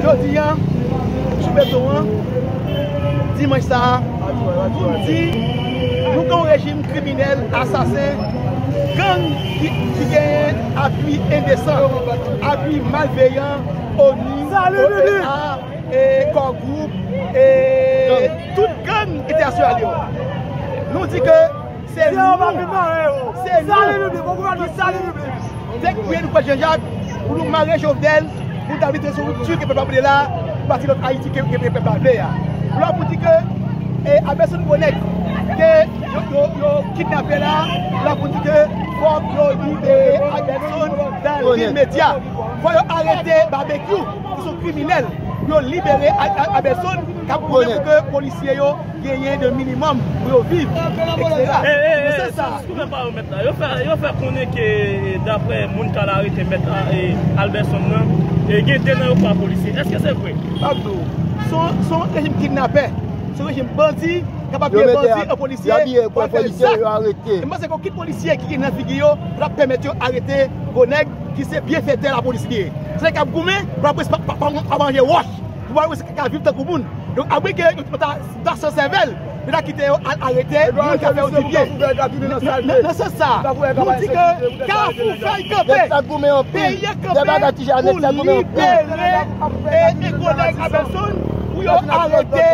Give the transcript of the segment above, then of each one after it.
Jodi a, sou beton an, dimanch sa a, pou m di, nou gen yon rejim kriminèl, asasen, gang ki genyen apui endesan, apui malveyan, ONU, OEA, Core Group, e tout gang entènasyonal yo. Nou di ke. Se nou! Jewova vle mare yo! Se nou! Sali piblik! Bon gouvènman! Sali piblik! Dèk priyè nou fè Janjak pou nou mare Jovenel pou ta vide sou ripti ke pèp la vle la pou bati lòt Ayiti ke pèp la vle a. Lò pou di ke Abèson gwo nèg ke yo kidnape la, lò pou di ke fòk yo libere Abèson dan limedya. Fòk yo arete Babekyou ki son kriminèl pou yo libere Abèson kap goumen pou ke polisye yo genyen de minimòm pou yo viv, ekstera. Nan sans sa a. Yo fè konnen ke daprè moun k al arete mèt Alberson nan, gen 2 nan yo pa polisye. Eske se vre? M ap di w. Se yon rejim kidnapè. Se yon rejim bandi k ap abiye bandi an polisye pou al fè zak. E m panse ke okenn polisye ki gen nan figi yo pa ta p pèmèt yo arete gwo nèg ki se byenfètè lapolis li ye. Se nèg k ap goumen pou lapolis pa manje wòch. Pou bay wese ki ka viv tankou moun. Donk abwe ke yo ta san sèvèl, yo ta kite yo al arete moun ka fè yo dibyen. Nan sans sa, nou di ke Kafou fèy kanpe, peyi a kanpe pou libere e Egonay Abelson pou yo arete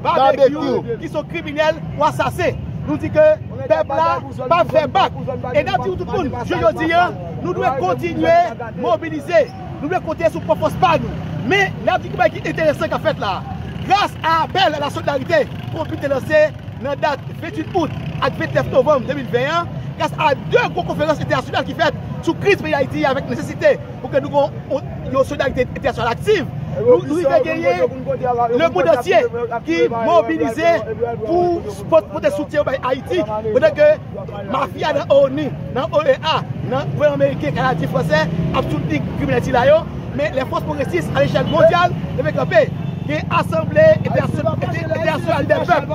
Babekyou ki son kriminèl ou asasen. Nou di ke pèp la pa fè bak. E nap di nou tout moun, jou jodi a, nou dwe kontinye mobilize. Nou vle konte sou pwòp fòs pa nou. Men, n ap di gen bagay ki enteresan k ap fèt la a. Gras a apèl a la solidarite Konpid te lanse nan dat 28 out ak 29 novanm 2020 an, gras a 2 gwo konferans entènasyonal ki fèt sou kriz peyi Ayiti a avèk nesesite pou ke nou gen yon solidarite entènasyonal aktiv, nou rive genyen lemond antye ki mobilize pou pote soutyen yo bay Ayiti pandan ke Mafya nan onu, nan OEA, nan gouvènman meriken, kanadyen, fransè ap soutni kriminèl sila yo, men lè fòs pwogresis alechèl mondyal leve kanpe, gen asanble entènasyonal dè pèp.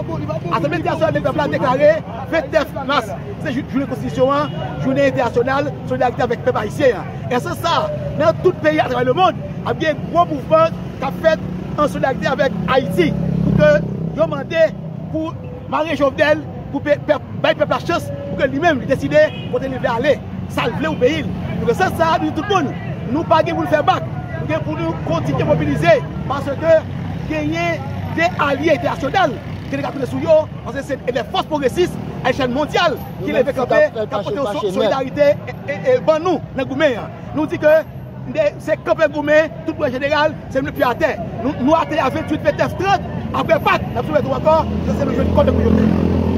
Asanble entènasyonal dè pèp la deklare 29 mas, se jou jounen konstitisyon an, jounen entènasyonal solidarite avèk pèp ayisyen an. Nan sans sa, nan tout peyi atravè lemond, ap gen gwo mouvman k ap fèt an solidarite avèk Ayiti pou ke yo mande pou Mare jovenel pou bay pèp la chans pou ke li menm li deside kote li vle ale, sal vle pou peyi l. Nou gen sans sa a nou di tout moun nou pa gen pou nou fè bak, nou gen pou nou kontinye mobilize paske genyen 2 alye entènasyonal ke nou ka konte sou yo paske se 2 fòs pwogresis a lechèl mondyal ki leve kanpe kap pote yon solidarite ban nou nan goumen an. Nou di ke. Se kanpe goumen, tout bon jeneral, se nou ki atè. Nou atè a 28 me 9 30, apre Pak, n ap soulev nou ankò, se nou jwenn kò de kou yo menm.